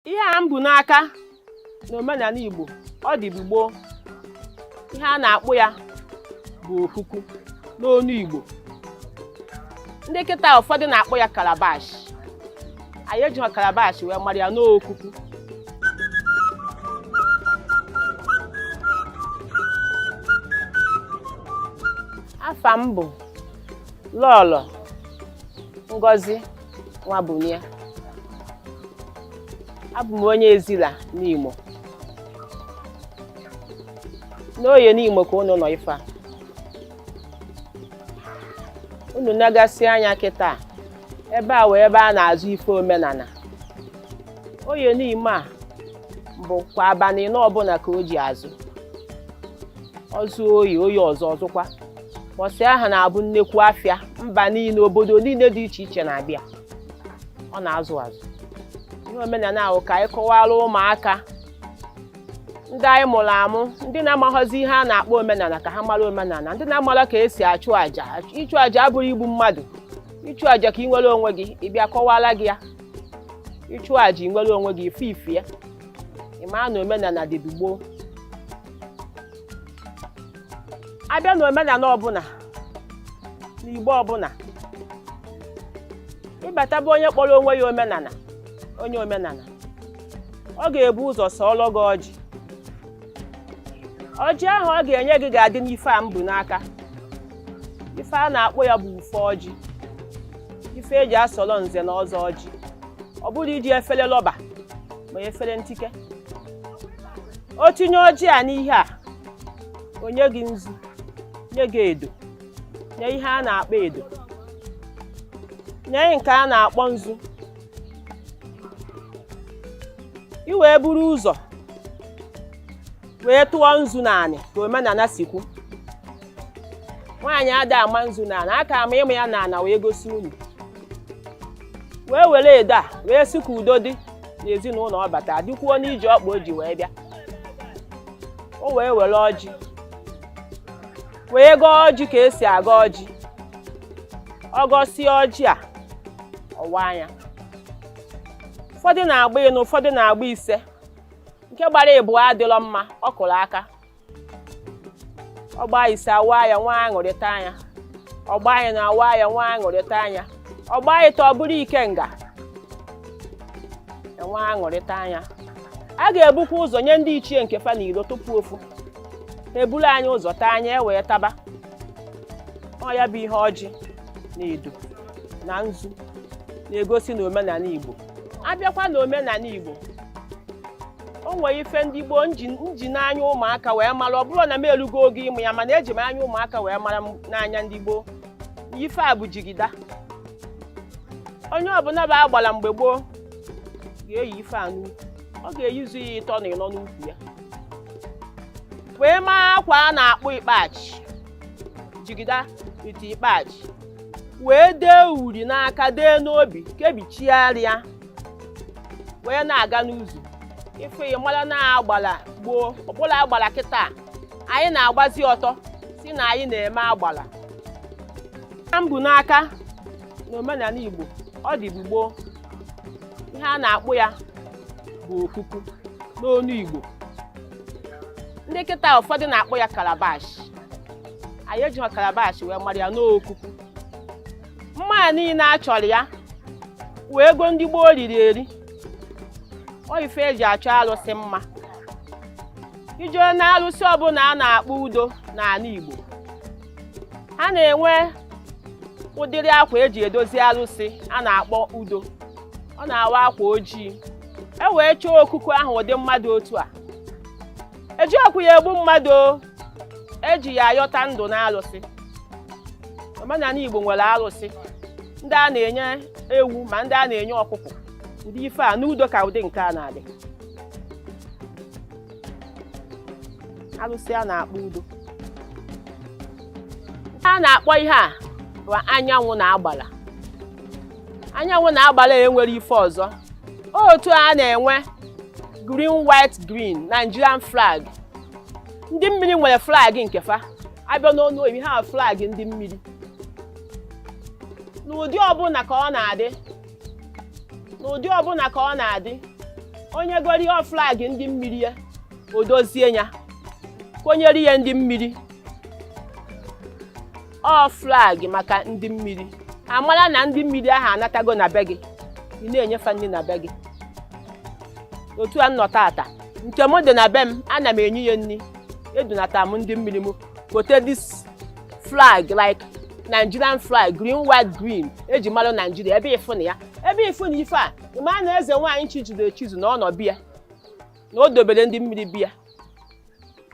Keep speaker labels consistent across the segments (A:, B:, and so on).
A: ihe a m bu n'aka n'omenala Igbo ọ dịbu gboo ihe a na-akpọ ya bụ okuku n'ọnụ Igbo ndị kịta ụfọdụ na-akpọ ya calabash anyị ejiha calabash wee mara ya n'ọ okuku afa m bụ lọlọ ngozi Nwabunia abụ m onye Ezila Nimo n'Oye Nimo ka unu nọ ife a unu nagasị anya kịta ebe a wụ ebe a na-azụ ife omenala Oye Nimo a bụ kwa abalị anọ ọbụla ka o ji azụ ọ zụ oye oye ọzọ ọ zụkwa mbọsị ahụ na-abụ nnekwu afịa mba niile obodo niile dị iche iche na-abịa ọ na-azụ azụ ihe omenala ahụ ka anyị kọwara ụmụaka ndị anyị mụrụ amụ ndị na-amaghọzi ihe a na-akpọ omenala ka ha mara omenala ndị na-amara ka esi achụ àjà ịchụ àjà abụrọ igbu mmadụ ịchụ àjà ka ị nwere onwe gị ị bịa a kọwara gị ya ịchụ àjà ị nwere onwe gị ị fụ ife a ị maa na omenala dịbu gboo abịa na omenala ọbụla na igbo ọbụla ị bata be onye kpọrọ onwe ya omenala onye omenala ọ ga-ebu ụzọ sọọlọ gị ọjị ọjị ahụ ọ ga-enye gị ga-adị n'ife a m bu n'aka ife a na-akpọ ya bụ ufe ọjị ife eji asọrọ nze na ọzọ ọjị ọ bụrọ iji efere rọba ma efere ntike o tinye ọjị a n'ihe a o nye gị nzu nye gị edo nee ihe a na-akpọ edo nee nke a na-akpọ nzu i wee buru ụzọ wee tụọ nzu n'anị ka omenala si kwu nwaanyị ada ama nzu n'anị aka ama mụ ya n'ana wee gosi unu wee were edo a wee sị ka udo dị n'ezinụlọ ọ bata dịkwuo n'ije ọkpa o ji wee bịa o wee were ọjị wee gọọ ọjị ka esi agọ ọjị ọ gọsịa ọjị a ọ waa ya ụfọdụ na-agba ịnọ ụfọdụ na-agba ise nke gbara ịbụa adịlọ mma ọ kụrụ aka ọ gbaa ise a waa ya nwee aṅụrị taa ya ọ gbaa ịnọ a waa ya nwee aṅụrị taa ya ọ gbaa ịtọ ọ bụrụ ikenga e nwee aṅụrị taa ya a ga-ebukwa ụzọ nye ndị ichie nke fa n'ilo tupu ofu eburu anyị ụzọ taa anyị ewee taba ọ ya bụ ihe ọjị na edo na nzu na-egosi na omenani Igbo a bịakwa na omenani Igbo o nwere ife ndị gboo m ji anya ụmụaka wee mara ọ bụrọ na m elugo oge ịmụ ya mana eji m anya ụmụaka wee mara n'anya ndị gboo ife a bụ jigida onye ọbụla bụ agbala mgbe gboo ga-eyi ife a n'ukwu ọ ga-eyizu ya ịtọ na ịnọ n'ukwu ya wee maa akwa a na-akpọ ikpeachi jigida ite ikpeachi wee dee uri n'aka dee n'obi kebichigharịa wee na-aga n'ụzọ ị fụ ya mara na agbala gboo abụrọ agbala kịta anyị na-agbazi ọtọ sị na anyị na-eme agbala na mbụ n'aka na omenani Igbo ọ dịbu gboo ihe a na-akpọ ya bụ okuku n'ọnụ Igbo ndị kịta ụfọdụ na-akpọ ya kalabash anyị ejirọ kalabash wee mara ya n'okuku mma a niile a chọrọ ya wee ego ndị gboo riri eri ọ ife eji achọ alụsị mma ị jee na alụsị ọbụla a na-akpọ udo n'ana Igbo ha na-enwe ụdịrị akwa eji edozi alụsị a na-akpọ udo ọ na-awa akwa ojii e wee chọọ okuku ahụ ụdị mma dị otu a ejirọkwu ya egbu mmadụ eji ya ayọta ndụ na alụsị omenani Igbo nwere alụsị ndị a na-enye ewu ma ndị a na-enye ọkụkọ ndị ife a n'udo ka ụdị nke a na-adị alụsị a na-akpọ udo a na-akpọ ihe a bụ anyanwụ na agbala anyanwụ na agbala e nwere ife ọzọ otu a na-enwe green white green Nigerian flag ndị mmiri nwere flag nke fa a bịa n'ọnụ oyibo ha flag ndị mmiri n'ụdị ọbụla ka ọ na-adị onye goro flag ndị mmiri ya o dozie ya konyere ya ndị mmiri ọ flag maka ndị mmiri amara na ndị mmiri ahụ anatago na be gị ị na-enye fa nri na be gị otu a m nọ taata nke m dị na be m ana m enye ya nri edunata m ndị mmiri m kote this flag like nigerian flag green white green eji mara naijiria ebe ịfụ na ya ebe ịfụ na ife a ịma na eze nwaanyị chizuru echizu na ọ nọ be ya na o dobere ndị mmiri be ya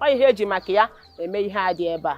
A: ọ ihe eji maka ya eme ihe a dị ebe a